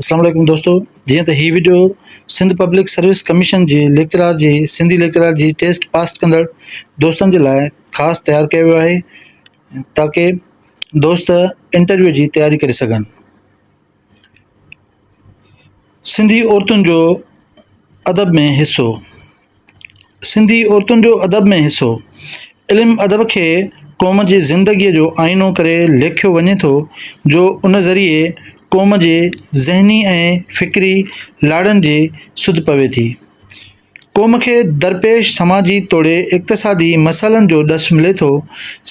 اسلام عليڪم دوستو جيئن ته هي video Sindh public service commission جي ليڪچرار جي سنڌي ليڪچرار جي ٽيسٽ پاس ڪندڙ دوستن جي لاء خاص تيار ڪيو ويو آهي تاڪي دوست انٽرويو جي تياري ڪري سگهن سنڌي عورتن جو ادب ۾ حصو سنڌي عورتن جو ادب ۾ حصو، علم ادب کي قوم جي زندگيء جو آئينو ڪري ليکيو وڃي ٿو جو ان ذريعي قوم جي ذهني ۽ فڪري لاڙن جي سڌ پوي ٿي. قوم کي درپيش سماجي توڙي اقتصادي مسئلن جو ڏس ملي ٿو،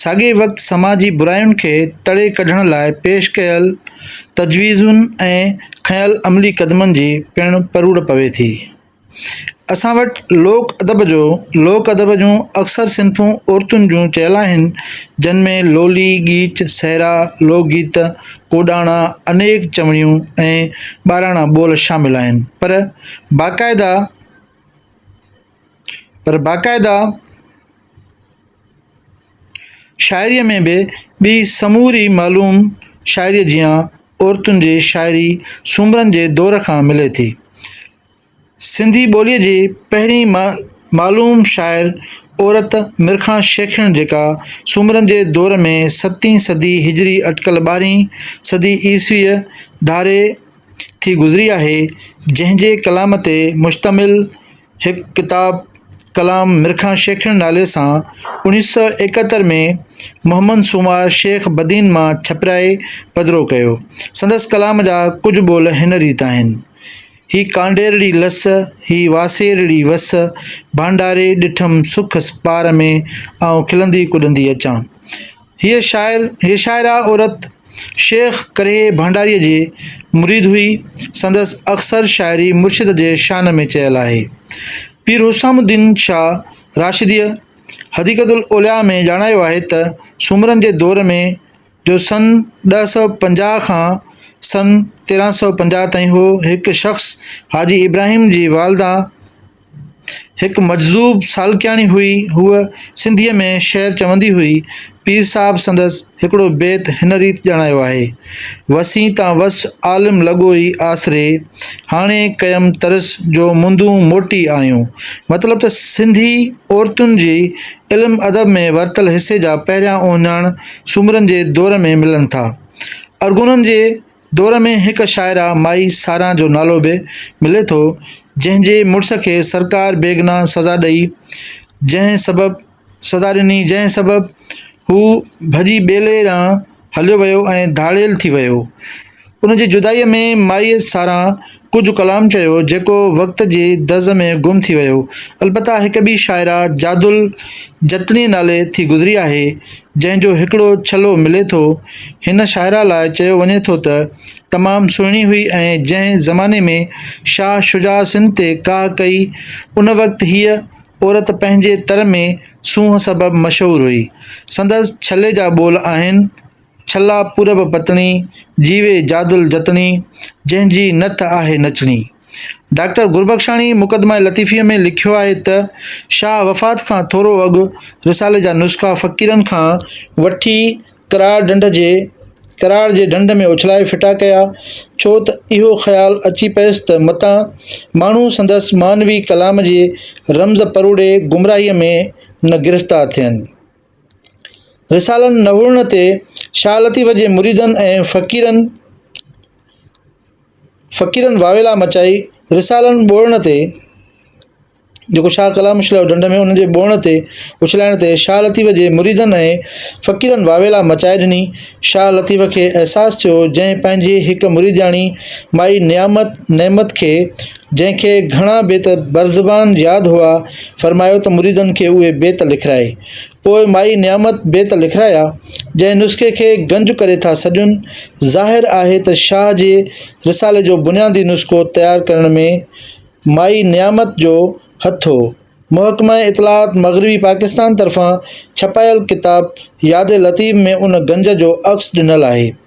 ساڳئي وقت سماجي براين کي تڙي ڪڍڻ لاء پيش ڪيل تجويزن ۽ کنيل عملي قدمن جي پڻ پروڙ پوي ٿي. اسان وٽ لوڪ ادب جو لوڪ ادب جون اڪثر صنفون عورتن جون چيل آهن جن ۾ لولي ڳيچ سهرا لوڪ گيت ڪوڏاڻا انيڪ چوڻيون ۽ ٻاراڻا ٻول شامل آهن پر باقاعده پر باقاعده شاعريء ۾ به ٻي سموري معلوم شاعريء جيان عورتن جي شاعري سومرن جي دور کان ملي ٿي سنڌي ٻوليء جي پهرين معلوم شاعر عورت ميرخان شيخڻ جيڪا سومرن جي دور ۾ ستين صدي هجري اٽڪل ٻارهين صدي عيسويء ڌاري ٿي گذري آهي جنهن جي ڪلام تي مشتمل هڪ ڪتاب ڪلام ميرخان شيخڻ نالي سان اڻيهه سؤ ايڪهتر ۾ محمد سونوار شيخ بدين مان ڇپرائي پڌرو ڪيو سندس ڪلام جا ڪجهه ٻول هن ريت آهن هي ڪانڊيرڙي لس، هي واسيرڙي وس، ڀانڊاري ڏٺم سک پار ۾، آئون کلندي ڪڏندي اچان. هيء شاعر، هيء شاعره عورت شيخ ڪرهي ڀانڊاريء جي مريد هئي، سندس اڪثر شاعري مرشد جي شان ۾ چيل آهي. پير حسام الدين شاهه راشديء حديقة الاولياء ۾ ڄاڻايو آهي ته سومرن جي دور ۾، جو سن ڏهه سؤ پنجاهه کان سن تيرهن سؤ پنجاهه تائين هو هڪ شخص حاجي ابراهيم جي والده هڪ مجذوب سالڪياڻي هئي هوء سنڌيء ۾ شعر چوندي هئي پير صاحب سندس هڪڙو بيت هن ريت ڄاڻايو آهي وسين تان وس عالم لڳو ئي آسري هاڻي ڪيم ترس جو مندون موٽي آيون مطلب ته سنڌي عورتن جي علم ادب ۾ ورتل حصي جا پهريان اهڃاڻ سومرن جي دور ۾ ملن ٿا. ارغونن جي دور ۾ هڪ شاعره مائي ساران جو نالو به ملي ٿو، جنهن جي مڙس کي سرڪار بيگنا سزا ڏئي جنهن سبب سزا ڏني جنهن سبب هو ڀڄي ٻيلي ڏانهن هليو ويو ۽ ڌاڙيل ٿي ويو. ان جي جدائيء ۾ مائيء ساران ڪجهه ڪلام چيو، جيڪو وقت جي دز ۾ گم ٿي ويو. البته هڪ ٻي شاعره جادل جتني نالي ٿي گذري آهي، جنهن جو هڪڙو ڇلو ملي ٿو. هن شاعره لاء چيو وڃي ٿو ته، تمام سهڻي هئي ۽ جنهن زماني ۾ شاهه شجاع سنڌ تي ڪاهه ڪئي، ان وقت هيء عورت پنهنجي تر ۾ سونهن سبب مشهور هئي. سندس ڇلي جا ٻول آهن. ڇلا پورب پتڻي، جيوي جادل جتڻي، جنهن جي نٿ آهي نچڻي. ڊاڪٽر گربخشاڻي مقدمه لطيفيء ۾ لکيو آهي ته، شاهه وفات کان ٿورو اڳ رسالي جا نسخا فقيرن کان وٺي ڪراڙ ڍنڍ جي ڪراڙ جي ڍنڍ ۾ اڇلائي ڦٽا ڪيا، ڇو ته اهو خيال اچي پيس ته متان ماڻهو سندس معنوي ڪلام جي رمز پروڙي گمراهيء ۾ نه گرفتار ٿين. رسالا نوڙڻ تي شاهه لطيف جي مريدن ۽ فقيرن فقيرن واويلا مچائي رسالا ٻوڙڻ تي جيڪو شاهه ڪلام اڇليو ڍنڍ ۾ ان جي ٻوڙڻ تي اڇلائڻ تي شاهه لطيف جي مريدن ۽ فقيرن واويلا مچائي ڏني. شاهه لطيف کي احساس ٿيو جنهن پنهنجي هڪ مريدياڻي مائي نعمت نعمت کي جنهن کي گهڻا بيت برزبان ياد هئا، فرمايو ته مريدن کي اهي بيت لکرائي. پوء مائي نعمت بيت لکرايا، جنهن نسخي کي گنج ڪري ٿا سڏين. ظاهر آهي ته شاهه جي رسالي جو بنيادي نسخو تيار ڪرڻ ۾ مائي نعمت جو هٿ هو. محڪمه اطلاعات مغربي پاڪستان طرفان ڇپايل ڪتاب ياد لطيف ۾ ان گنج جو عڪس ڏنل آهي.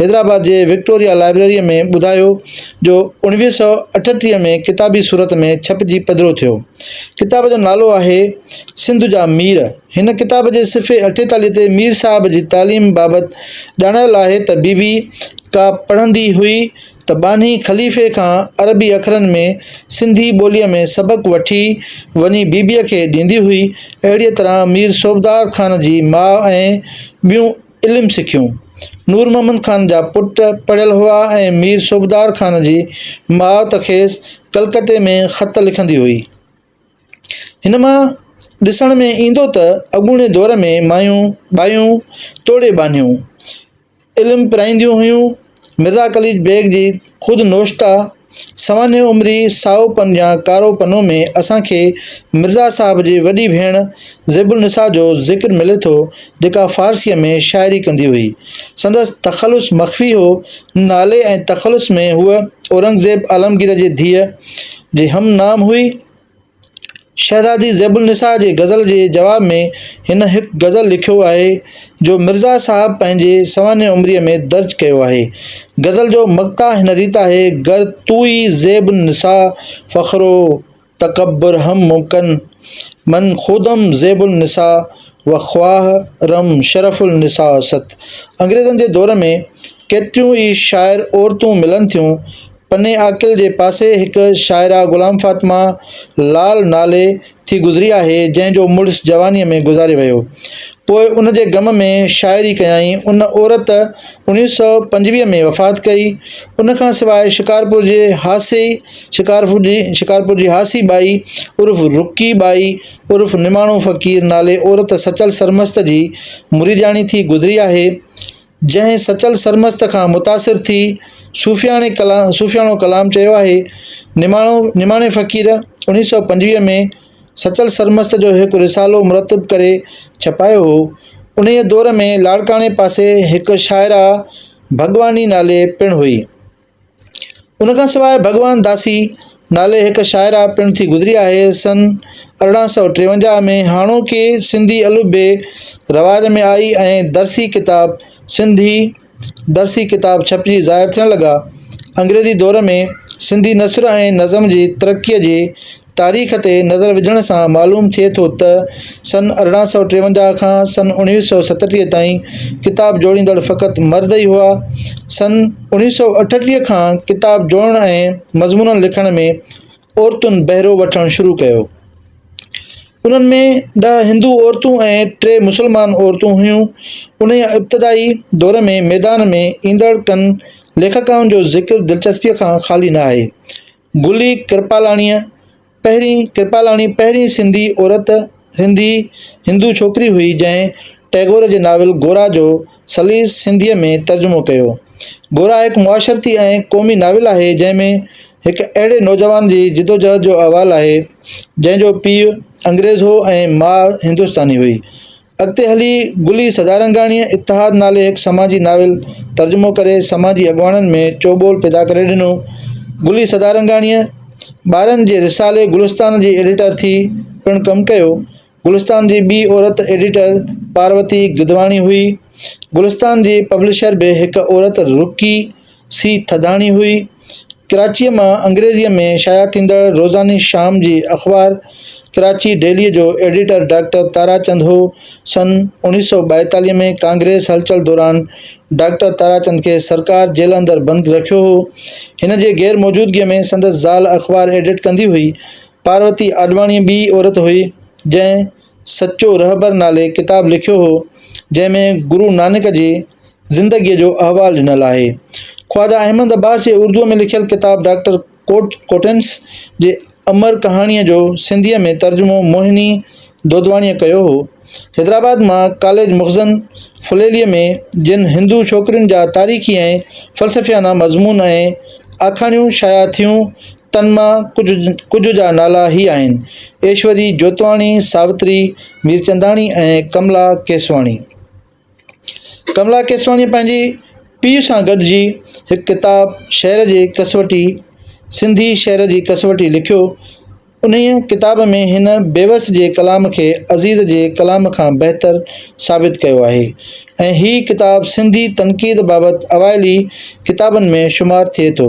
حيدرآباد جي وڪٽوريا لائبريريء ۾ ٻڌايو جو اوڻويهه سؤ اٺٽيهه ۾ ڪتابي صورت ۾ ڇپجي پڌرو ٿيو. ڪتاب جو نالو آهي سنڌ جا مير. هن ڪتاب جي صفحي اٺيتاليهه تي مير صاحب جي تعليم بابت ڄاڻايل آهي ته بيبي ڪا پڙهندي هئي ته ٻانهي خليفي کان عربي اکرن ۾ سنڌي ٻوليء ۾ سبق وٺي وڃي بيبيء کي ڏيندي هئي. اهڙيء طرح مير صوبدار خان جي ماء ۽ ٻيون علم سکيون. نور محمد خان جا پٽ پڙهيل هئا ۽ مير صوبدار خان جي ماء ته کيس ڪلڪتي ۾ خط لکندي هئي. هن مان ڏسڻ ۾ ايندو ته اڳوڻي دور ۾ مايون ٻايون توڙي ٻانهيون علم پرائينديون هيون. مرزا قليچ بيگ جي خود نوشته. سوانح عمري، سائو پن يا ڪارو پنو ۾ اسان کي مرزا صاحب جي وڏي ڀيڻ زيب النساء جو ذڪر ملي ٿو، جيڪا فارسيء ۾ شاعري ڪندي هئي. سندس تخلص مخفي هو. نالي ۽ تخلص ۾ هوء اورنگزيب عالمگير جي ڌيء جي هم نام هئي. شهزادي زيب النساء جي غزل جي جواب ۾ هن هڪ غزل لکيو آهي جو مرزا صاحب پنهنجي سوانح عمريء ۾ درج ڪيو آهي. غزل جو مقطع هن ريت آهي، گر توئي زيب النساء فخر و تڪبر هم ممڪن، من خودم زيب النساء و خواه رم شرف النساء ست. انگريزن جي دور ۾ ڪيتريون ئي شاعر عورتون ملن ٿيون. پني عاقل جي پاسي هڪ شاعره غلام فاطمه لعل نالي ٿي گذري آهي، جنهن جو مڙس جوانيء ۾ گذاري ويو. پوء ان جي غم ۾ شاعري ڪيائين. ان عورت اوڻيهه سؤ پنجويهه ۾ وفات ڪئي. ان کان سواء شڪارپور جي هاسي شڪارپور جي هاسي ٻائي عرف رڪي ٻائي عرف نماڻو فقير نالي عورت سچل سرمست جي مريدياڻي ٿي گذري آهي. جنهن سچل سرمست کان متاثر ٿي صوفياڻي ڪلام صوفياڻو ڪلام چيو آهي، نماڻو نماڻي فقير اڻيهه سؤ پنجويهه ۾ سچل سرمست جو هڪ رسالو مرتب ڪري ڇپايو هو، انهيء دور ۾ لاڙڪاڻي پاسي هڪ شاعره ڀڳواني نالي پڻ هئي. ان کان سواء ڀڳوان داسي نالي هڪ شاعره پڻ ٿي گذري آهي، سن ارڙهن سؤ ٽيونجاهه ۾ هاڻوڪي سنڌي الفبي رواج ۾ آئي ۽ درسي ڪتاب سنڌي درسي ڪتاب ڇپجي ظاهر ٿيڻ لڳا. انگريزي دور ۾ سنڌي نثر ۽ نظم جي ترقيء جي تاريخ تي نظر وجهڻ سان معلوم ٿئي ٿو ته سن ارڙهن سؤ ٽيونجاهه کان سن اڻويهه سؤ ستٽيهه تائين ڪتاب جوڙيندڙ فقط مرد ئي هئا. سن اڻويهه سؤ اٺٽيهه کان ڪتاب جوڙڻ ۽ مضمونن لکڻ ۾ عورتن بهرو وٺڻ شروع ڪيو. انهن ۾ ڏهه هندو عورتون ۽ ٽي مسلمان عورتون هيون. انهيء ابتدائي دور ۾ ميدان ۾ ايندڙ ڪن ليکڪائن جو ذڪر دلچسپيء کان خالي ناهي. گلي ڪرپالاڻيء پهرين ڪرپالاڻي پهرين سنڌي عورت سنڌي هندو ڇوڪري هئي جنهن ٽئگور جي ناول گورا جو سليس سنڌيء ۾ ترجمو ڪيو گورا هڪ معاشرتي ۽ قومي ناول آهي جنهن ۾ هڪ اهڙي نوجوان جي جدوجهد جو احوال آهي جنهن جو پيء انگريز هو ۽ ماء هندستاني هئي اڳتي هلي گلي سدارنگاڻيء اتحاد نالي هڪ سماجي ناول ترجمو ڪري سماجي اڳواڻن ۾ چوٻول پيدا ڪري ڏنو. گلي سدارنگاڻيء ٻارن جي رسالي گلستان جي ايڊيٽر ٿي پڻ ڪم ڪيو. گلستان جي ٻي عورت ايڊيٽر پاروتي گدواڻي هئي. گلستان جي پبلشر به هڪ عورت رڪي سي ٿڌاڻي هئي. ڪراچيء مان انگريزيء ۾ شايع ٿيندڙ روزاني شام جي اخبار ڪراچي ڊيليء جو ايڊيٽر ڊاڪٽر تاراچند هو. سن اوڻيهه سؤ ٻائيتاليهه ۾ ڪانگريس هلچل دوران ڊاڪٽر تاراچند کي سرڪار جيل اندر بند رکيو هو. هن جي غير موجودگيء ۾ سندس زال اخبار ايڊٽ ڪندي هئي. پاروتي آڏواڻي ٻي عورت هئي، جنهن. سچو رهبر نالي ڪتاب لکيو هو، جنهن ۾ گرو نانڪ جي زندگيء جو احوال ڏنل آهي. خواجه احمد عباس جي اردوء ۾ لکيل ڪتاب ڊاڪٽر ڪوٽنس جي امر ڪهاڻيء جو سنڌيء ۾ ترجمو موهني دودواڻيء ڪيو هو. حيدرآباد مان ڪاليج مخزن ڦليليء ۾ جن هندو ڇوڪرين جا تاريخي ۽ فلسفيانه مضمون ۽ آکاڻيون شايع ٿيون، تن مان ڪجهه ڪجهه جا نالا هي آهن، ايشوري جوتواڻي، ساوتري ميرچنداڻي ۽ ڪملا ڪيسواڻي. ڪملا ڪيسواڻيء پنهنجي پيء سان گڏجي هڪ ڪتاب شعر جي ڪسوٽي، سنڌي شعر جي ڪسوٽي لکيو. انهيء ڪتاب ۾ هن بيوس جي ڪلام کي عزيز جي ڪلام کان بهتر ثابت ڪيو آهي ۽ هي ڪتاب سنڌي تنقيد بابت اوائلي ڪتابن ۾ شمار ٿئي ٿو.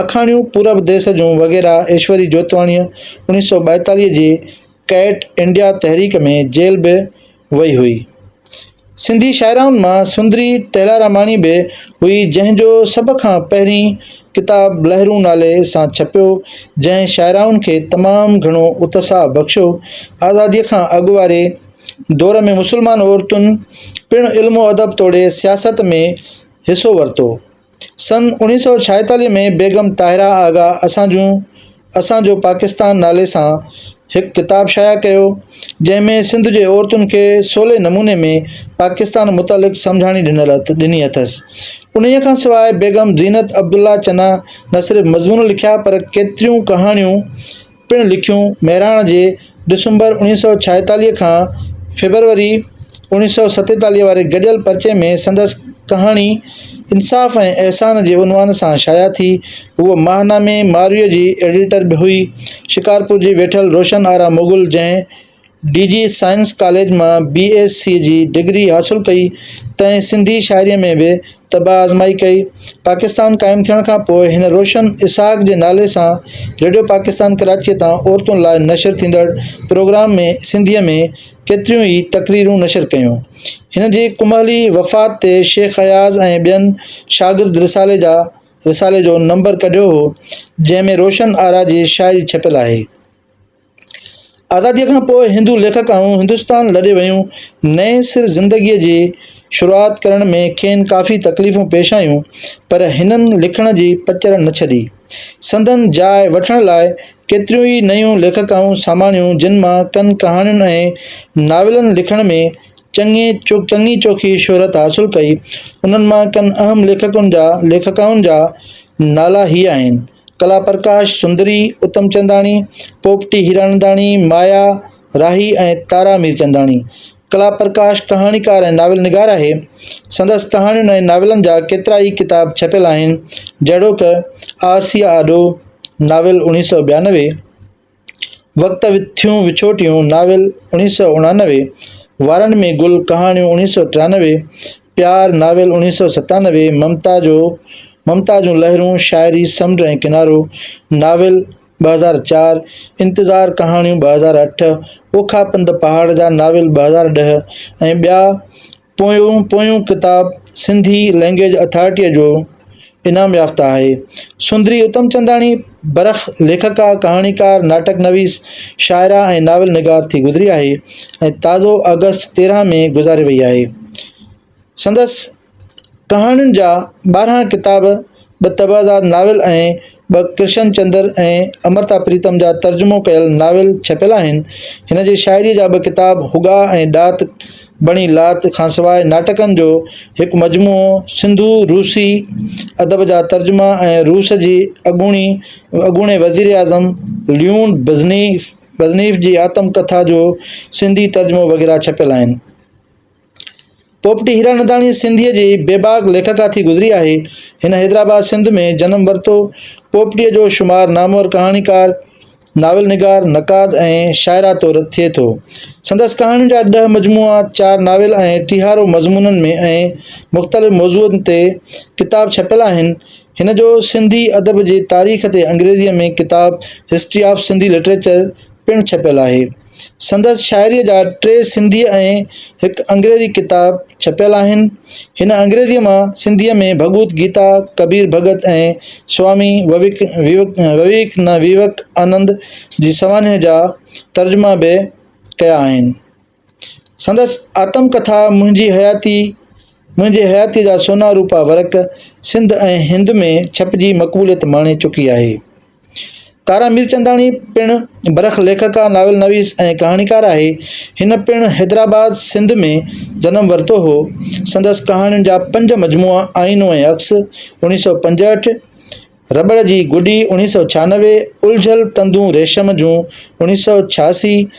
آکاڻيون پورب ديس جون وغيره ايشوري جوتواڻيء اوڻيهه سؤ ٻائيتاليهه جي ڪئٽ انڊيا تحريڪ ۾ جيل به وئي هئي. سنڌي شاعرائن مان سندري ٽيلاراماڻي به هئي جنهن جو سڀ کان پهرين ڪتاب لهرون نالي سان ڇپيو جنهن شاعرائن کي تمام گهڻو اتساهه بخشيو. آزاديء کان اڳ واري دور ۾ مسلمان عورتن پڻ علم و ادب توڙي سياست ۾ حصو ورتو سن اوڻيهه سؤ ڇاهيتاليهه ۾ بيگم طاهره آغا اسان جون اسان جو پاڪستان نالي سان هڪ ڪتاب شايع ڪيو، جنهن ۾ سنڌ جي عورتن کي سولي نموني ۾ پاڪستان متعلق سمجهاڻي ڏنل ڏني اٿس. انهيء کان سواء بيگم زينت عبدالله چنا نه صرف مضمون لکيا پر ڪيتريون ڪهاڻيون، پڻ لکيون مهراڻ جي ڊسمبر اوڻيهه سؤ ڇاهيتاليهه کان فيبروري اوڻيهه سؤ ستيتاليهه واري گڏيل پرچي ۾ سندس ڪهاڻي انصاف ۽ احسان جي عنوان سان شايع ٿي هوء ماهنامي مارويء جي ايڊيٽر به هئي شڪارپور جي ويٺل روشن آرا مغل جنهن ڊي جي سائنس ڪاليج مان بي ايس سي جي ڊگري حاصل ڪئي تنهن سنڌي شاعريء ۾ به طبع آزمائي ڪئي. پاڪستان قائم ٿيڻ کان پوء هن روشن اسحاق جي نالي سان ريڊيو پاڪستان ڪراچيء تان عورتن لاء نشر ٿيندڙ پروگرام ۾ سنڌيء ۾ ڪيتريون ئي تقريرون نشر ڪيون. هن جي ڪمهلي وفات تي شيخ اياز ۽ ٻين شاگرد رسالي جا رسالي جو نمبر ڪڍيو هو، جنهن ۾ روشن آرا جي شاعري ڇپيل آهي. آزاديء کان پوء هندو ليکڪائون هندستان لڏي ويون، نئين سر زندگيء جي شروعات ڪرڻ ۾ کين ڪافي تڪليفون پيش آيون، پر هنن لکڻ جي پچر نه ڇڏي. سندن جاء وٺڻ لاء ڪيتريون ئي نيون ليکڪائون ساماڻيون جن مان ڪن ڪهاڻين ۽ ناولن لکڻ ۾ چڱي چڱي چوکي شهرت حاصل ڪئي، انهن مان ڪن اهم ليکڪن جا ليکڪائن جا نالا هي آهن. ڪلا پرڪاش سندري، اتم چنداڻي، پوپٽي هيراننداڻي، مايا راهي ۽ تارا ميرچنداڻي. ڪلا پرڪاش ڪهاڻيڪار ۽ ناول نگار آهي. سندس ڪهاڻين ۽ ناولن جا ڪيترا ئي ڪتاب ڇپيل آهن، جهڙوڪ، آرسيء آڏو، ناول، اڻيهه سؤ ٻيانوي، وقت وٿيون وڇوٽيون ناول اوڻيھ سؤ اڻانوي، وارن ۾ گل ڪهاڻيون اوڻيھ سؤ ٽيانوي، پيار ناول اوڻيھ سؤ ستانوي، ممتا جو ممتا جون لهرون شاعري سمنڊ ۽ ڪنارو ناول ٻه هزار چار، انتظار ڪهاڻيون ٻه هزار اٺ، اوکا پنڌ پهاڙ جا ناول ٻه هزار ڏهه ۽ ٻيا پويون پويون ڪتاب سنڌي لئنگئيج اٿارٽيء جو انعام يافته آهي. سندري اتمچنداڻي برک ليکڪا، ڪهاڻيڪار، ناٽڪ نويس، شاعره ۽ ناول نگار ٿي گذري آهي ۽ تازو آگسٽ تيرهن ۾ گذاري وئي آهي. سندس. ڪهاڻين جا ٻارهن ڪتاب، ٻه طبعزاد ناول ۽ ٻه ڪرشن چندر ۽ امرتا پريتم جا ترجمو ڪيل ناول ڇپيل آهن. هن جي شاعريء جا ٻه ڪتاب هوڳا ۽ ڏات بڻي لات کانسواء ناٽڪن جو هڪ مجموعو سنڌو روسي ادب جا ترجما ۽ روس جي اڳوڻي اڳوڻي وزير اعظم ليون برزنيف برزنيف جي آتم ڪٿا جو سنڌي ترجمو وغيره ڇپيل آهن. پوپٽي هيراننداڻي سنڌيء جي بيباڪ ليکڪا ٿي گذري آهي. هن حيدرآباد سنڌ ۾ جنم ورتو. پوپٽيء جو شمار نامور ڪهاڻيڪار، ناول نگار، نقاد ۽ شاعره طور ٿئي ٿو. سندس ڪهاڻين جا ڏهه مجموعا، چار ناول ۽ ٽيهارو مضمونن ۾ ۽ مختلف موضوعن تي ڪتاب ڇپيل آهن. هن جو سنڌي ادب جي تاريخ تي انگريزيء ۾ ڪتاب History of Sindhi Literature پڻ ڇپيل آهي. سندس شاعريء جا ٽي سنڌيء ۽ هڪ انگريزي ڪتاب ڇپيل آهن. هن انگريزيء مان سنڌيء ۾ ڀڳوت گيتا، ڪبير ڀڳت ۽ سوامي وويڪانند جي سوانح جا ترجما به ڪيا آهن. سندس آتم ڪٿا منهنجي حياتي منهنجي حياتيء جا سونا روپا ورق سنڌ ۽ هند ۾ ڇپجي مقبوليت ماڻي چڪي آهي. تارا ميرچنداڻي پڻ برک ليکڪا، ناول نويس ۽ ڪهاڻيڪار آهي. هن پڻ حيدرآباد، سنڌ ۾ جنم ورتو هو. سندس ڪهاڻين جا پنج مجموعا آئينو ۽ عڪس، اوڻيهه سؤ پنجهٺ، رٻڙ جي گڏي، اوڻيهه سؤ ڇهانوي، الجهيل تندون ريشم جون، اوڻيهه سؤ ڇهاسي،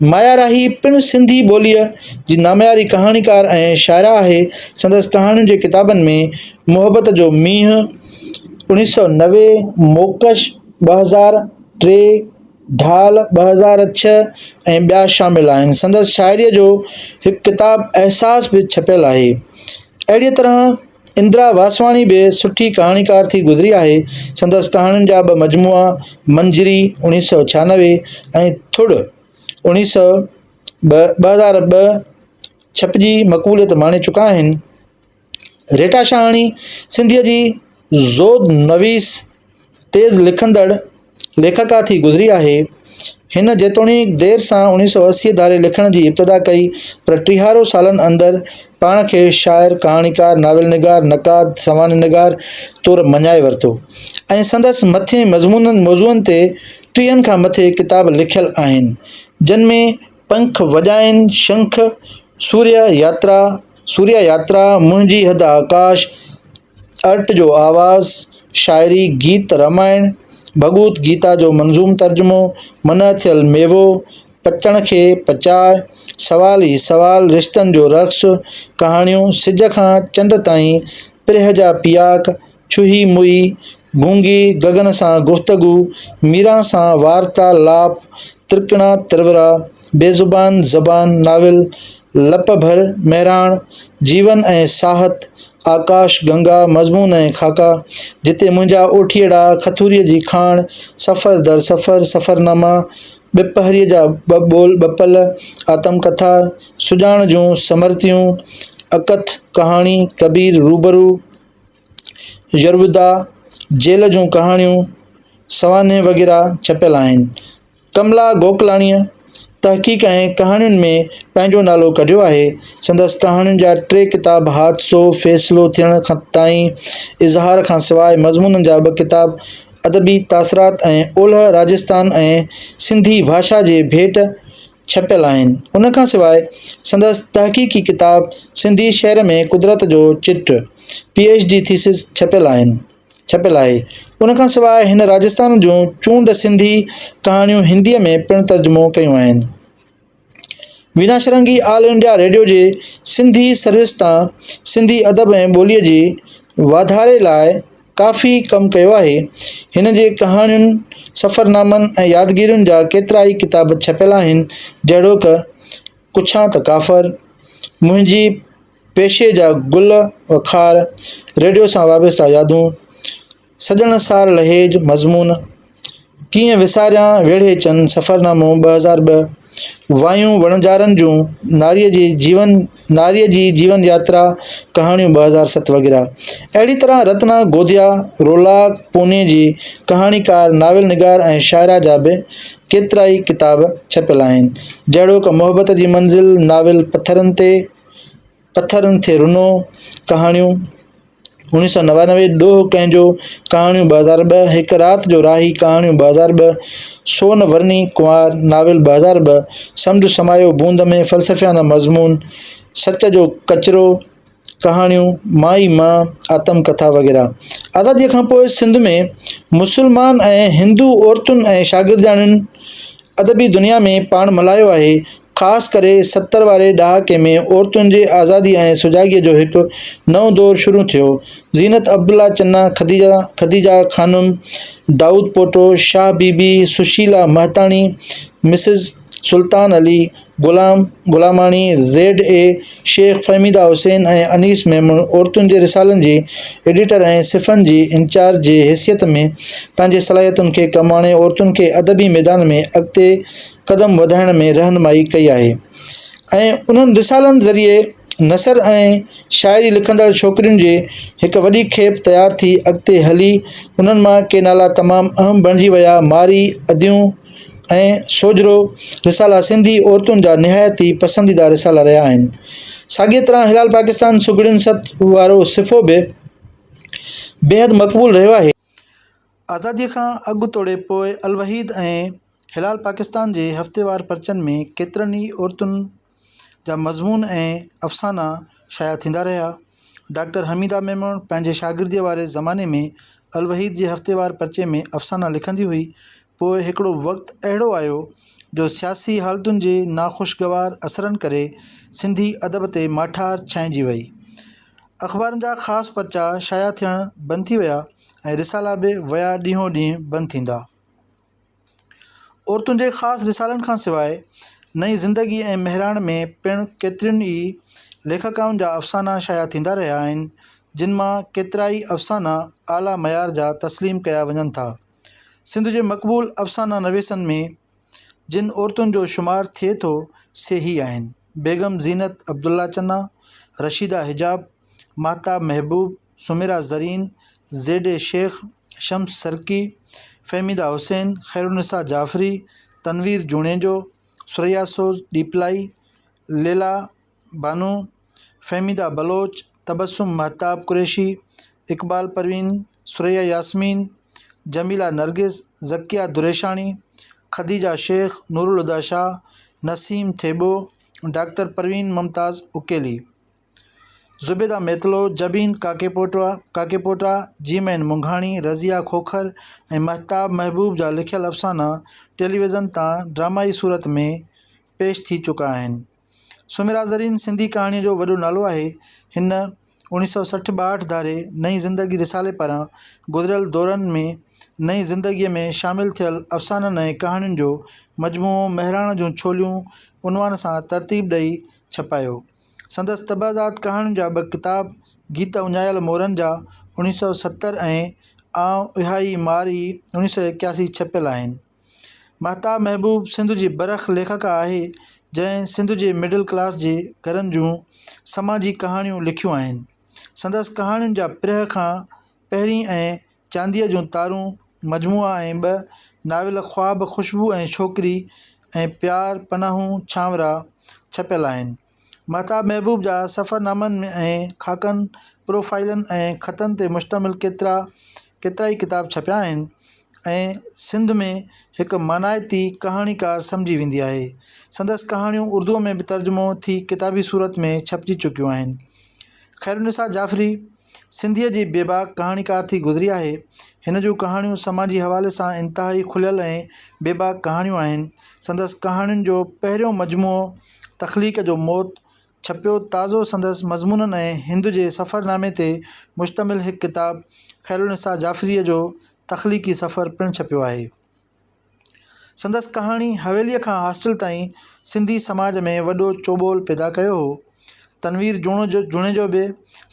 مايا راهي پڻ سنڌي ٻوليء جي نامياري ڪهاڻيڪار ۽ شاعره آهي. سندس ڪهاڻين جي ڪتابن ۾، محبت جو مينهن، اوڻيهه سؤ نوي، موڪش، ٻه هزار ٽي، ڍال، ٻه هزار ڇهه، ۽ ٻيا شامل آهن. سندس شاعريء جو هڪ ڪتاب احساس به ڇپيل آهي. اهڙيء طرح اندرا واسواڻي به سٺي ڪهاڻيڪار ٿي گذري آهي، سندس ڪهاڻين جا ٻه مجموعا منجري اوڻيهه سؤ ڇهانوي ۽ ٿڙ اوڻيهه سؤ ٻه ٻه هزار ٻه ڇپجي مقبوليت ماڻي چڪا آهن. ريٽا شاهاڻي سنڌيء جي زود نويس تيز لکندڙ ليکڪا ٿي گذري آهي. هن جيتوڻيڪ دير سان اڻيهه سؤ اسي ڌاري لکڻ جي ابتدا ڪئي پر ٽيهارو سالن اندر پاڻ کي شاعر، ڪهاڻيڪار، ناول نگار، نقاد، سوانح نگار طور مڃائي ورتو ۽ سندس مٿين مضمونن موضوعن تي ٽيهن کان مٿي ڪتاب لکيل آهن جن ۾، پنک وڄائين شنک، سوريا ياترا، Surya Yatra، منهنجي حد آڪاش، ارٽ جو آواز، شاعري، گيت رامائڻ، ڀڳوت گيتا جو منظوم ترجمو، منع ٿيل ميوو، پچڻ کي پچاء، سوال ئي سوال، رشتن جو رقص، ڪهاڻيون، سج کان چنڊ تائين، پرهه جا پياڪ، ڇهي موئي، گونگي گگن سان گفتگو، ميران سان وارتا لاپ، ترڪڻا ترورا، بي زبان زبان ناول، لپ ڀر مهراڻ، جيون ۽ ساهت، آڪاش گنگا، مضمون ۽ خاڪا، جتي منهنجا اوٺيئڙا، کٿوريء جي کاڻ، سفر در سفر، سفرناما، ٻپهريء جا ٻه ٻول ٻه پل، آتم ڪٿا، سڄاڻ جون سمرتيون، اڪٿ، ڪهاڻي، ڪبير، روبرو. يرودا جيل جون ڪهاڻيون، سوانح وغيره ڇپيل آهن. ڪملا گوڪلاڻيء تحقيق ۽ ڪهاڻين ۾ پنهنجو نالو ڪڍيو آهي. سندس ڪهاڻين جا ٽي ڪتاب حادثو فيصلو ٿيڻ تائين، اظهار کان سواء مضمونن جا ٻه ڪتاب ادبي تاثرات ۽ اولهه راجستان ۽ سنڌي ڀاشا جي ڀيٽ، ڇپيل آهن. ان کان سواء سندس تحقيقي ڪتاب سنڌي شعر ۾ قدرت جو چٽ، پي ايڇ ڊي ٿيسز، ڇپيل آهن ڇپيل آهي. ان کان سواء هن راجستان جون چونڊ سنڌي ڪهاڻيون هنديء ۾ پڻ ترجمو ڪيون آهن. Veena Shringi all India radio جي سنڌي سروس تان سنڌي ادب ۽ ٻوليء جي واڌاري لاء، ڪافي ڪم ڪيو آهي. هن جي ڪهاڻين، سفرنامن ۽ يادگيرين جا ڪيترائي ڪتاب ڇپيل آهن، جهڙوڪ، ڪڇان ته ڪافر، منهنجي پيشي جا گل و خار، ريڊيو سان وابسته يادون، سڄڻ سار لهيج، مضمون، ڪيئن وساريان ويڙهي چن، سفرنامو، ٻه هزار ٻه، وايون وڻجارن جون، ناريء جي جيون، ناريء جي جيون ياترا، ڪهاڻيون، ٻه هزار ست وغيره. اهڙي طرح رتنا گوديا، رولاڪ، پوني جي ڪهاڻيڪار، ناول نگار ۽ شاعره جا به ڪيترائي ڪتاب ڇپيل آهن، جهڙوڪ محبت جي منزل، ناول پٿرن تي، پٿرن تي رنو، ڪهاڻيون، اوڻيهه سؤ نوانوي، ڏوهه ڪنهن جو، ڪهاڻيون ٻه هزار ٻه، هڪ رات جو راهي، ڪهاڻيون ٻه هزار ٻه، سون ورني ڪنوار، ناول ٻه هزار ٻه، سمنڊ سمايو بوند ۾، فلسفيانه مضمون، سچ جو ڪچرو، ڪهاڻيون، مان ئي مان، آتم ڪٿا وغيره. آزاديء کان پوء سنڌ ۾ مسلمان ۽ هندو عورتن ۽ شاگردياڻين ادبي دنيا ۾ پاڻ ملهايو آهي، خاص ڪري ستر واري ڏهاڪي ۾ عورتن جي آزادي ۽ سجاڳيء جو هڪ نئون دور شروع ٿيو. زينت Abdullah Channa, Khadija Khadija Khanum, Daud Pota, Shah Bibi, Sushila Mehtani, Mrs Sultan Ali, Ghulam Ghulamani, Z A Sheikh, Fahmida Hussain ۽ Anees Memon عورتن جي رسالن جي ايڊيٽر ۽ صفحن جي انچارج جي حيثيت ۾ پنهنجي صلاحيتن کي ڪم آڻي عورتن کي ادبي ميدان ۾ اڳتي قدم وڌائڻ ۾ رهنمائي ڪئي آهي ۽ انهن رسالن ذريعي نثر ۽ شاعري لکندڙ ڇوڪرين جي هڪ وڏي کيپ تيار ٿي اڳتي هلي انهن مان ڪي نالا تمام اهم بڻجي ويا مارئي اديون ۽ سوجهرو رسالا سنڌي عورتن جا نهايت ئي پسنديده رسالا رهيا آهن ساڳيء طرح هلال پاڪستان سگهڙين ست وارو صفحو به بيحد مقبول رهيو آهي. آزاديء کان اڳ توڙي پوء الوحيد ۽ هلال پاڪستان جي هفتيوار پرچن ۾ ڪيترن ئي عورتن جا مضمون ۽ افسانا شايع ٿيندا رهيا. ڊاڪٽر حميده ميمڻ پنهنجي شاگرديء واري زماني ۾ الوحيد جي هفتيوار پرچي ۾ افسانا لکندي هئي. پوء هڪڙو وقت اهڙو آيو جو سياسي حالتن جي ناخوشگوار اثرن ڪري سنڌي ادب تي ماٺار ڇائنجي ويئي. اخبارن جا خاص پرچا شايع ٿيڻ بند ٿي ويا ۽ رسالا به ويا ڏينهو ڏينهن بند ٿيندا عورتن جي خاص رسالن کان سواء نئي زندگي ۽ مهراڻ ۾ پڻ ڪيترين ئي ليکڪائن جا افسانا شايع ٿيندا رهيا آهن جن مان ڪيترائي افسانا اعليٰ معيار جا تسليم ڪيا وڃن ٿا سنڌ جي مقبول افسانه نويسن ۾ جن عورتن جو شمار ٿئي ٿو سي هي آهن بيگم زينت Abdullah Channa Rashida Hijab Mahtab Mehboob Sumaira Zareen Z A Sheikh Shams Sarki Fahmida Hussain Khairunnisa Jafri Tanveer Junejo Surayya Soz Dhepelai Laila Bano Fahmida Baloch, Tabassum Mahtab Qureshi, Iqbal Parveen, Surayya Yasmeen, Jamila Nargis, Zakia Dreshani, Khadija Sheikh, Noorulhuda Shah, Naseem Thebo, doctor Parveen Mumtaz Akeli, Zubaida Metlo, Jabeen Kakepota, Kakepoota، جيمين منگهاڻي، Razia Khokhar ۽ Mahtab محبوب جا لکيل افسانا ٽيليويزن تان ڊرامائي صورت ۾ پيش ٿي چڪا آهن. سميرا زرين سنڌي ڪهاڻيء جو وڏو نالو آهي. هن اوڻيھ سؤ سٺ ٻاهٺ ڌاري نئين زندگي رسالي پاران گذريل دورن ۾ نئين زندگيء ۾ شامل ٿيل افسانن ۽ ڪهاڻين جو مجموعو مهراڻ جون ڇوليون عنوان سان ترتيب ڏئي ڇپايو. سندس طبعزاد ڪهاڻين جا ٻه ڪتاب گيت اڃايل مورن جا اوڻيھ سؤ ستر ۽ آئون اهائي مار ئي اوڻيھ سؤ ايڪياسي ڇپيل آهن. مهتاب محبوب سنڌ جي برک ليکڪا آهي جنهن سنڌ جي مڊل ڪلاس جي گهرن جون سماجي ڪهاڻيون لکيون آهن سندس ڪهاڻين جا پرهه کان پهرين ۽ چانديء جون تارون مجموعا ۽ ٻه ناول خواب خوشبو ۽ ڇوڪري ۽ پيار پناهون ڇانورا ڇپيل آهن مهتاب محبوب جا سفرنامن ۾ ۽ خاڪن، پروفائيلن ۽ خطن تي مشتمل ڪيترا ڪيترائي ڪتاب ڇپيا آهن ۽ سنڌ ۾ هڪ مانائتي ڪهاڻيڪار سمجهي ويندي آهي. سندس ڪهاڻيون اردوء ۾ به ترجمو ٿي ڪتابي صورت ۾ ڇپجي چڪيون آهن. خيرالنساء جعفري. سنڌيء جي بيباڪ ڪهاڻيڪار ٿي گذري آهي. هن جون ڪهاڻيون سماجي حوالي سان انتهائي کليل ۽ بيباڪ ڪهاڻيون آهن. سندس ڪهاڻين جو پهريون مجموعو تخليق جو موت ڇپيو تازو سندس مضمونن ۽ هند جي سفر نامي تي مشتمل هڪ ڪتاب خيرالنساء جعفريء جو تخليقي سفر پڻ ڇپيو آهي. سندس ڪهاڻي حويليء کان هاسٽل تائين سنڌي سماج ۾ وڏو چوٻول پيدا ڪيو هو تنوير جوڻيجو جوڻيجو به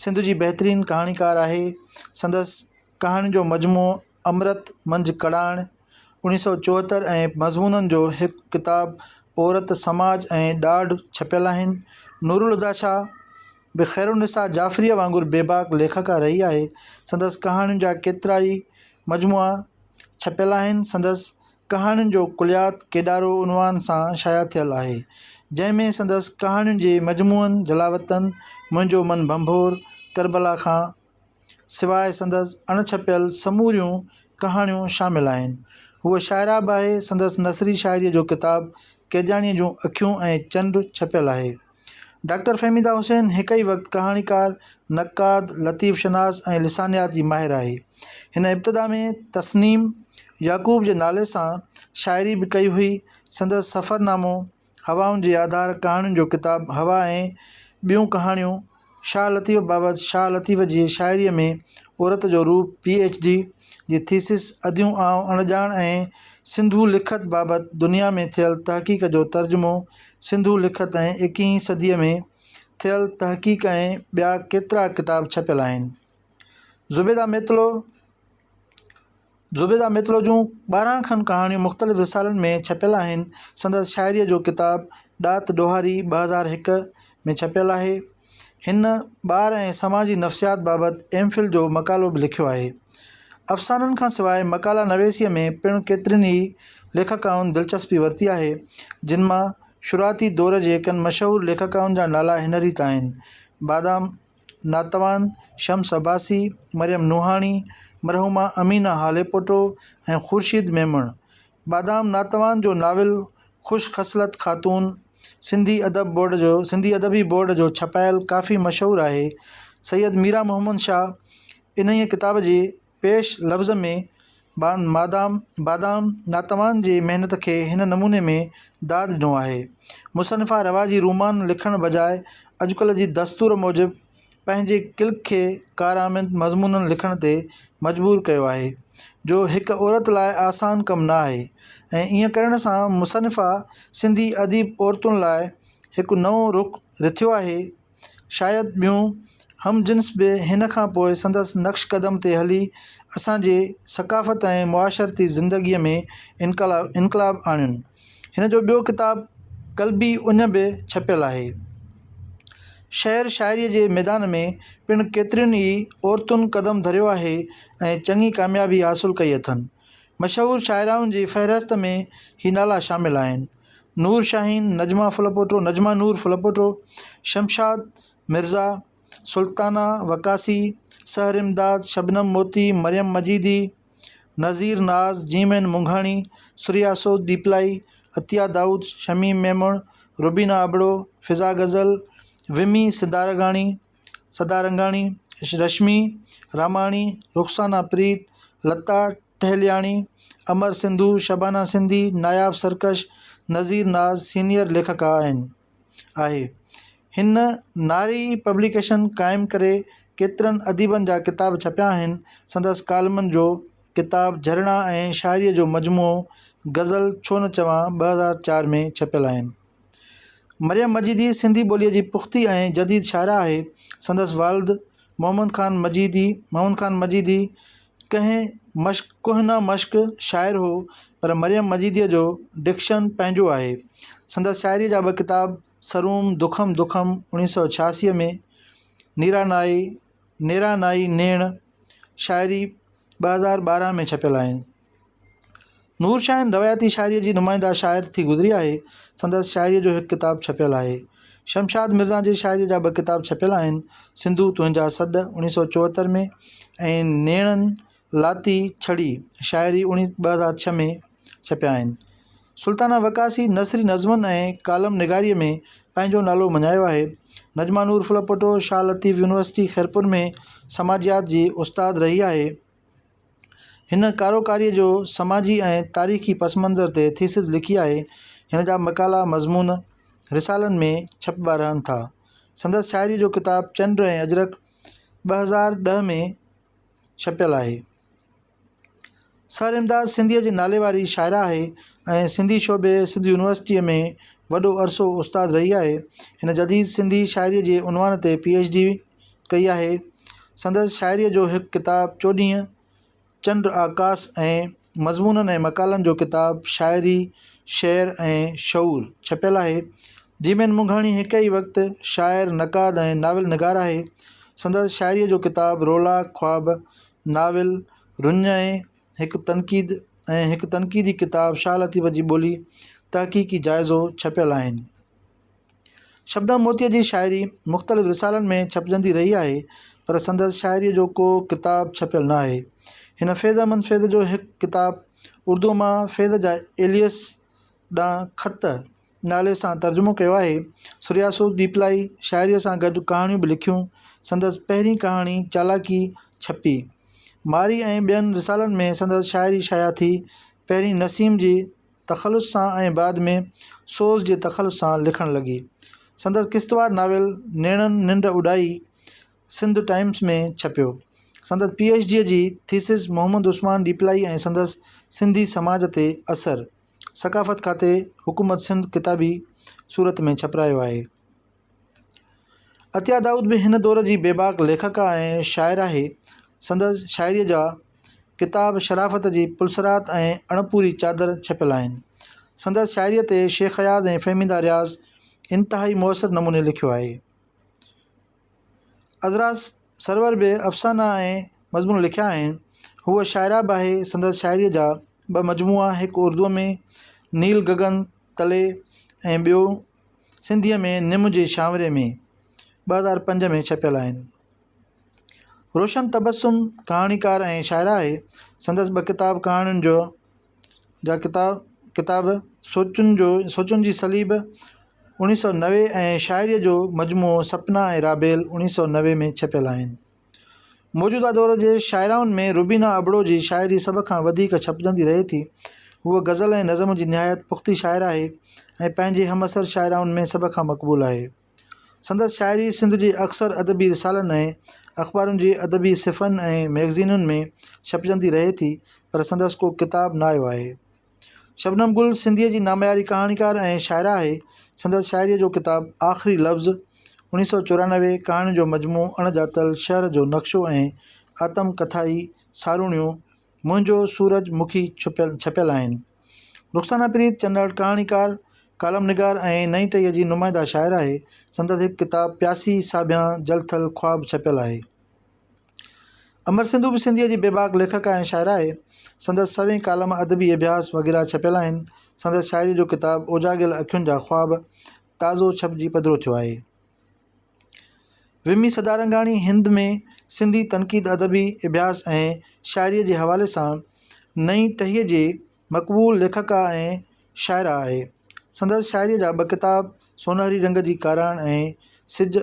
سنڌ جي بهترين ڪهاڻيڪار آهي سندس ڪهاڻين جو مجموعو امرت منجهه ڪڙاڻ اوڻيهه سو چوهتر ۽ مضمونن جو هڪ ڪتاب عورت سماج ۽ ڏاڍ ڇپيل آهن نورالهديٰ شاهه به خيرالنساء جعفريء وانگر بيباڪ ليکڪا رهي آهي سندس ڪهاڻين جا ڪيترائي مجموعا ڇپيل آهن، سندس ڪهاڻين جو ڪليات ڪيڏارو عنوان سان شايع ٿيل آهي، جنهن ۾ سندس ڪهاڻين جي مجموعن جلاوطن، منهنجو من ڀنڀور، ڪربلا کان سواء سندس اڻ ڇپيل سموريون ڪهاڻيون شامل آهن. هوء شاعره به آهي، سندس نثري شاعريء جو ڪتاب قيدياڻيء جون اکيون ۽ چنڊ ڇپيل آهي. ڊاڪٽر فهميده حسين هڪ ئي وقت ڪهاڻيڪار، نقاد، لطيف شناس ۽ لسانيات جي ماهر آهي. هن ابتدا ۾ تسنيم يعقوب جي نالي سان شاعري به ڪئي هئي. سندس سفرنامو، هوائن جي آڌار، ڪهاڻين جو ڪتاب هوا ۽ ٻيون ڪهاڻيون، شاهه لطيف بابت شاهه لطيف جي شاعريء ۾ عورت جو روپ پي ايڇ ڊي جي ٿيسز اديون آئون اڻڄاڻ ۽ سنڌو لکت بابت دنيا ۾ ٿيل تحقيق جو ترجمو سنڌو لکت ۽ ايڪيهين صديء ۾ ٿيل تحقيق ۽ ٻيا ڪيترا ڪتاب ڇپيل آهن زبيده ميتلو زبيده ميتلو جون ٻارهن کن ڪهاڻيون مختلف رسالن ۾ ڇپيل آهن. سندس شاعريء جو ڪتاب ڏات ڏوهاري ٻه هزار هڪ ۾ ڇپيل آهي. هن ٻار ۽ سماجي نفسيات بابت ايم فل جو مقالو به لکيو آهي. افسانن کان سواء مقالا نويسيء ۾ پڻ ڪيترين ئي ليکڪائن دلچسپي ورتي آهي، جن مان شروعاتي دور جي ڪن مشهور ليکڪائن جا نالا هن ريت آهن، بادام، ناتوان، شمس عباسي، مريم نوحاڻي، مرحومه امينه هاليپوٽو ۽ خورشيد ميمڻ. بادام ناتوان جو ناول خوش خصلت خاتون سنڌي ادب بورڊ جو سنڌي ادبي بورڊ جو ڇپايل ڪافي مشهور آهي. سيد ميرامحمد شاهه انهيء ڪتاب جي پيش لفظ ۾ بادام بادام ناتوان جي محنت کي هن نموني ۾ داد ڏنو آهي مصنفا رواجي رومان لکڻ بجاء اڄڪلهه جي دستور موجب پنهنجي ڪلڪ کي ڪارآمد مضمون لکڻ تي مجبور ڪيو آهي جو هڪ عورت لاء آسان ڪم نه آهي ۽ ايئن ڪرڻ سان مصنفا سنڌي اديب عورتن لاء هڪ نئون رخ رٿيو آهي شايد ٻيون هم جنس به هن کان پوء سندس نقش قدم تي هلي اسان جي ثقافت ۽ معاشرتي زندگيء ۾ انقلا انقلاب آڻين هن جو ٻيو ڪتاب قلبي اڃ به ڇپيل آهي شعر شاعريء جي ميدان ۾ پڻ ڪيترين ئي عورتن قدم ڌريو آهي ۽ چڱي ڪاميابي حاصل ڪئي اٿن مشهور شاعرائن جي فهرست ۾ هي نالا شامل آهن نور شاهين، نجمه ڦلپوٽو، نجمه نور ڦلپوٽو، شمشاد مرزا، سلطانه وقاصي، سحر امداد، شبنم موتي، مريم مجيدي، نظير ناز، جيم اين منگهاڻي، سريا سوڌ ڏيپلائي، عطيه دائود، شميم ميمڻ، روبينا ابڙو، فضا غزل، ومي سدارگاڻي سدارنگاڻي، رشمي راماڻي، رخسانه پريت، لتا ٽهلياڻي، امر سنڌو، شبانه سنڌي، ناياب سرڪش، نظير ناز سينيئر ليکڪا آهن. آهي. هن ناري پبليڪيشن قائم ڪري ڪيترن اديبن جا ڪتاب ڇپيا آهن. سندس ڪالمن جو ڪتاب جهرڻا ۽ شاعريء جو مجموعو غزل ڇو نه چوان ٻه هزار چار ۾ ڇپيل آهن. مريم مجيدي سنڌي ٻوليء جي پختي ۽ جديد شاعره آهي. سندس والد Muhammad Khan Majidi, Mohammad Khan Majidi، ڪنهن مشق ڪهنه مشق شاعر هو، پر مريم مجيديء جو ڊڪشن پنهنجو آهي. سندس شاعريء جا ٻه ڪتاب سروم دکم دکم اوڻيهه سؤ ڇياسي ۾، نيرا نائي نيرا نائي نيڻ شاعري ٻه هزار ٻارهن ۾ ڇپيل آهن. نور شاهين روايتي شاعريء جي نمائنده شاعر ٿي گذري آهي. سندس شاعريء جو هڪ ڪتاب ڇپيل آهي. شمشاد مرزا جي شاعريء جا ٻه ڪتاب ڇپيل آهن، سنڌو تنهنجا سڏ، اڻيهه سؤ چوهتر ۾ ۽ نيڻن لاتي ڇڙي، شاعري، ٻه هزار ڇهه ۾ ڇپيا آهن. سلطانه وقاصي نثري نظمن ۽ ڪالم نگاريء ۾ پنهنجو نالو مڃايو آهي. نجما نور ڦلپوٽو شاهه لطيف يونيورسٽي خيرپور ۾ سماجيات جي استاد رهي آهي. هن ڪاروڪاريء جو سماجي ۽ تاريخي پس منظر تي ٿيسز لکي آهي. هن جا مقالا مضمون رسالن ۾ ڇپبا رهن ٿا. سندس شاعريء جو ڪتاب چنڊ ۽ اجرڪ ٻه هزار ڏهه ۾ ڇپيل آهي. سر امداد سنڌيء جي نالي واري شاعره آهي ۽ سنڌي شعبي سنڌ يونيورسٽيء ۾ وڏو عرصو استاد رهي آهي. هن جديد سنڌي شاعريء جي عنوان تي پي ايڇ ڊي ڪئي آهي سندس شاعريء جو هڪ ڪتاب چوڏهينء چنڊ آڪاس ۽ مضمونن ۽ مقالن جو ڪتاب شاعري شعر ۽ شعور ڇپيل آهي جيمين منگهاڻي هڪ ئي وقت شاعر نقاد ۽ ناول نگار آهي سندس شاعريء جو ڪتاب رولا خواب ناول رڃ ۽ هڪ تنقيد ۽ هڪ تنقيدي ڪتاب شاهه لطيف جي ٻولي تحقيقي جائزو ڇپيل آهن شبنم موتيء جي شاعري مختلف رسالن ۾ ڇپجندي رهي آهي پر سندس شاعريء جو ڪو ڪتاب ڇپيل نه آهي. هن فيض احمد فيض جو هڪ ڪتاب اردوء مان فيض جا ايليس ڏانهن خط نالي سان ترجمو ڪيو آهي. سرياسوس ڏيپلائي شاعريء سان گڏ ڪهاڻيون به لکيون. سندس پهرين ڪهاڻي چالاڪي ڇپي. مارئي ۽ ٻين رسالن ۾ سندس شاعري شايع ٿي. پهرين نسيم جي. تخلص سان ۽ بعد ۾ سوز جي تخلص سان لکڻ لڳي سندس قسطوار ناول نيڻن ننڊ اڏائي سنڌ ٽائمس ۾ ڇپيو سندس پي ايڇ ڊي جي ٿيسز محمد عثمان ڏيپلائي ۽ سندس سنڌي سماج تي اثر ثقافت کاتي حڪومت سنڌ ڪتابي صورت ۾ ڇپرايو آهي عطيه دائود به هن دور جي بيباڪ ليکڪا ۽ شاعر آهي. سندس شاعريء جا ڪتاب شرافت جي پلسرات ۽ اڻپوري چادر ڇپيل آهن. سندس شاعريء تي شيخ اياز ۽ فهميده رياض انتهائي مؤثر نموني لکيو آهي. عذرا سرور به افسانا ۽ مضمون لکيا آهن. هوء شاعره به آهي. سندس شاعريء جا ٻه مجموعا هڪ اردوء ۾، نيل گگن تلي، ۽ ٻيو، سنڌيء ۾ نم جي شانوري ۾ ٻه هزار پنج ۾ ڇپيل آهن. روشن تبسم ڪهاڻيڪار ۽ شاعره آهي. سندس ٻه ڪتاب ڪهاڻين جو جا ڪتاب ڪتاب سوچن جو سوچن جي صليب اوڻيھ سؤ نوي ۽ شاعريء جو مجموعو سپنا ۽ رابيل اوڻيھ سؤ نوي ۾ ڇپيل آهن. موجوده دور جي شاعرائن ۾ روبينه ابڙو جي شاعري سڀ کان وڌيڪ ڇپجندي رهي ٿي. هوء غزل ۽ نظم جي نهايت پختي شاعر آهي ۽ پنهنجي همعصر شاعرائن ۾ سڀ کان مقبول آهي. سندس شاعري سنڌ جي اڪثر ادبي رسالن ۽ اخبارن جي ادبي صفحن ۽ مئگزينن ۾ ڇپجندي رهي ٿي پر سندس ڪو ڪتاب نه آيو آهي. شبنم گل سنڌيء جي نامياري ڪهاڻيڪاره ۽ شاعره آهي. سندس شاعريء جو ڪتاب آخري لفظ، اڻيهه سؤ چورانوي، ڪهاڻين جو مجموعو اڻ ڄاتل شهر جو نقشو ۽ آتم ڪٿائي ساروڻيون منهنجو سورج مکي ڇپيل آهن. رخسانه پريت چنڙ ڪهاڻيڪاره، ڪالم نگار ۽ نئين ٽهيء جي نمائنده شاعره آهي. سندس هڪ ڪتاب پياسي ساڀيان جل ٿل خواب ڇپيل آهي. امر سنڌو به سنڌيء جي بيباڪ ليکڪا ۽ شاعره آهي سندس سوين ڪالم ادبي اڀياس وغيره ڇپيل آهن سندس شاعري جو ڪتاب اوجاڳيل اکين جا خواب تازو ڇپجي پڌرو ٿيو آهي ومي سدارنگاڻي هند ۾ سنڌي تنقيد ادبي اڀياس ۽ شاعري جي حوالي سان نئين ٽهيء جي مقبول ليکڪا ۽ شاعره آهي. سندس شاعريء جا ٻه ڪتاب سونهري رنگ جي ڪاراڻ ۽ سج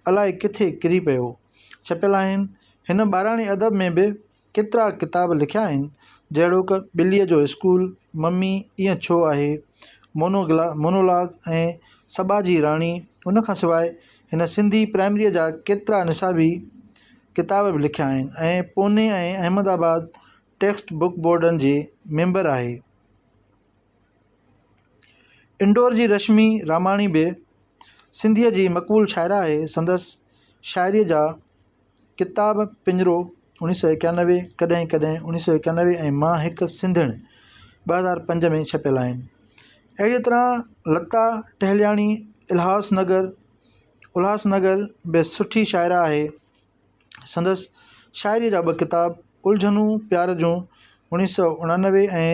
الاء ڪٿي ڪري پيو ڇپيل آهن. هن ٻاراڻي ادب ۾ به ڪيترا ڪتاب لکيا آهن، جهڙوڪ، ٻليء جو اسڪول، ممي ائين ڇو آهي، مونو گلا مونولاگ ۽ سٻا جي راڻي. ان کان سواء هن سنڌي پرائمريء جا ڪيترا نصابي ڪتاب به لکيا آهن ۽ Poona ۽ Ahmedabad text book بورڊن جي ميمبر آهي. انڊور جي رشمي راماڻي به سنڌيء جي مقبول شاعره آهي. سندس شاعريء جا ڪتاب پڃرو اوڻيھ سؤ ايڪانوي، ڪڏهن ڪڏهن اوڻيھ سؤ ايڪانوي ۽ مان هڪ سنڌڻ ٻه هزار پنج ۾ ڇپيل آهن. اهڙيء طرح لتا ٽهلياڻي الهاس نگر Ulhasnagar به سٺي شاعره آهي. سندس شاعريء جا ٻه ڪتاب الجهنون پيار جون اوڻيھ سؤ اڻنوي ۽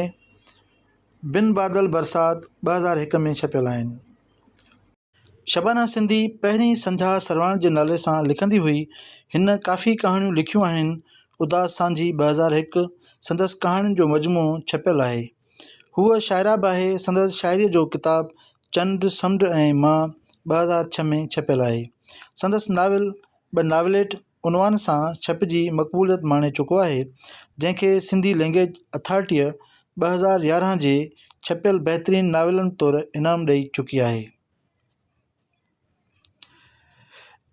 بن بادل برسات ٻه هزار هڪ ۾ ڇپيل آهن. شبانه سنڌي پهرين سنجها سرواڻ جي نالي سان لکندي هئي. هن ڪافي ڪهاڻيون لکيون آهن. اداس سانجهي ٻه هزار هڪ سندس ڪهاڻين جو مجموعو ڇپيل آهي. هوء شاعره به آهي. سندس شاعريء جو ڪتاب چنڊ، سمنڊ ۽ مان ٻه هزار ڇهه ۾ ڇپيل آهي. سندس ناول ٻه ناوليٽ عنوان سان ڇپجي مقبوليت ماڻي چڪو آهي جنهن کي سنڌي لئنگئيج اٿارٽيء ٻه هزار يارهن جي ڇپيل بهترين ناولن طور انعام ڏئي چڪي آهي.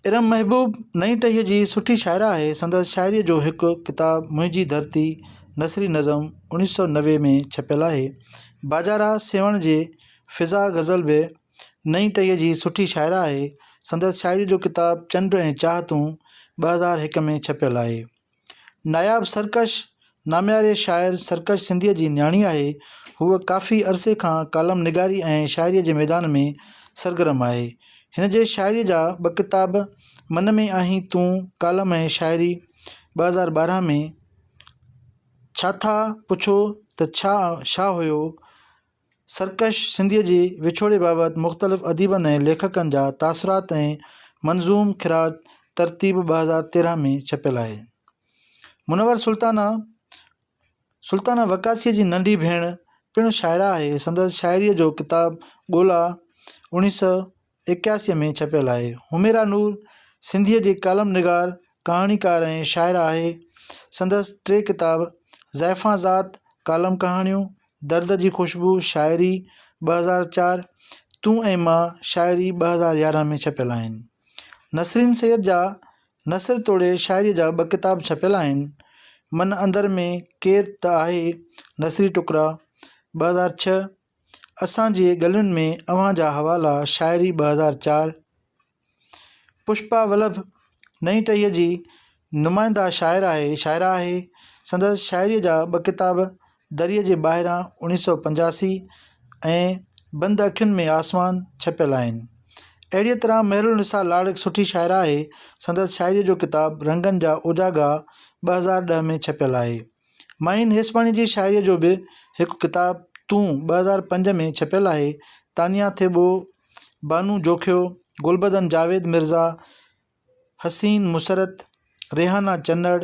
ارم محبوب نئين ٽهيء جي سٺي شاعره آهي، سندس شاعريء جو هڪ ڪتاب منهنجي ڌرتي نثري نظم اوڻيهه سؤ نوي ۾ ڇپيل آهي. باجارا سيوهڻ جي فضا غزل به نئين ٽهيء جي سٺي شاعره آهي. سندس شاعريء جو ڪتاب چنڊ ۽ چاهتون ٻه هزار هڪ ۾ ڇپيل آهي. ناياب سرڪش، نامياري شاعر سرڪش سنڌيء جي نياڻي آهي. هوء ڪافي عرصي کان ڪالم نگاري ۽ شاعريء جي ميدان ۾ سرگرم آهي. هن جي شاعريء جا ٻه ڪتاب من ۾ آهين تون، ڪالم ۽ شاعري، ٻه هزار ٻارهن ۾، ڇاٿا پڇو ته ڇا شاهه هيو؟ سرڪش سنڌيء جي وڇوڙي بابت مختلف اديبن ۽ ليکڪن جا تاثرات ۽ منظوم خراج ترتيب ٻه هزار تيرهن ۾ ڇپيل آهي. منور سلطانه، سلطانه وقاصيء جي ننڍي ڀيڻ، پڻ شاعره آهي. سندس شاعريء جو ڪتاب ڳولا، اوڻيهه سؤ، ايڪياسي ۾ ڇپيل آهي. حميرا نور سنڌيء جي ڪالم نگار، ڪهاڻيڪار ۽ شاعره آهي. سندس ٽي ڪتاب زائفان ذات، ڪالم ڪهاڻيون، درد جي خوشبو، شاعري، ٻه هزار چار، تون ۽ مان، شاعري، ٻه هزار يارهن ۾ ڇپيل آهن. نسرين سيد جا نثر توڙي شاعريء جا ٻه ڪتاب ڇپيل آهن، من اندر ۾ ڪير ته آهي، نثري ٽڪرا، ٻه هزار ڇهه، اسان جي ڳلين ۾ اوهان جا حوالا شاعري ٻه هزار چار پشپا ولڀ نئين ٽهيء جي نمائنده شاعر آهي شاعره آهي سندس شاعريء جا ٻه ڪتاب دريء جي ٻاهران اوڻيهه سؤ پنجاسي ۽ بند اکين ۾ آسمان ڇپيل آهن اهڙيء طرح مهرالنساء لاڙ هڪ سٺي شاعره آهي سندس شاعريء جو ڪتاب رنگن جا اوجاڳا ٻه هزار ڏهه ۾ ڇپيل آهي معين هيسباڻي جي شاعريء جو به هڪ ڪتاب تون ٻه هزار پنج ۾ ڇپيل آهي. تانيا ٿيٻو، بانو جوکيو، گلبدن جاويد مرزا، حسين مسرت، ريحانا چنڙ،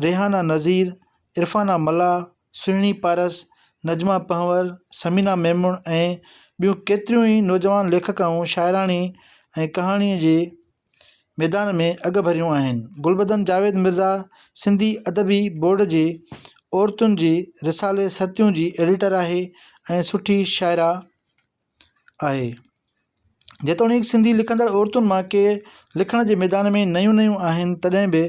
ريحانا نذير، عرفانا ملاح، سهڻي پارس، نجما پنهور، ثمينه ميمڻ ۽ ٻيون ڪيتريون ئي نوجوان ليکڪائون شاعراڻي ۽ ڪهاڻيء جي ميدان ۾ اڳ ڀريون آهن. گلبدن جاويد مرزا سنڌي ادبي بورڊ جي عورتن جي رسالي سرتيون جي ايڊيٽر آهي ۽ سٺي شاعره آهي. جيتوڻيڪ سنڌي لکندڙ عورتن مان ڪي لکڻ جي ميدان ۾ نيون نيون آهن تڏهن به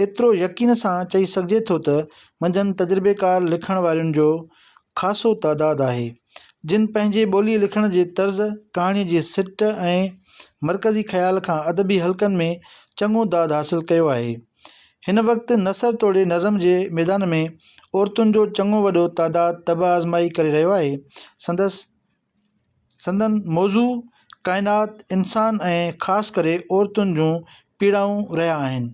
ايترو يقين سان چئي سگهجي ٿو ته منجهن تجربيڪار لکڻ وارين جو خاصو تعداد آهي، جن پنهنجي ٻوليء لکڻ جي طرز، ڪهاڻيء جي سٽ ۽ مرڪزي خيال کان ادبي حلقن ۾ چڱو داد حاصل ڪيو آهي. هن وقت نثر توڙي نظم جي ميدان ۾ عورتن جو چڱو وڏو تعداد طبع آزمائي ڪري رهيو آهي. سندس سندن موضوع ڪائنات، انسان ۽ خاص ڪري عورتن جون پيڙائون رهيا آهن.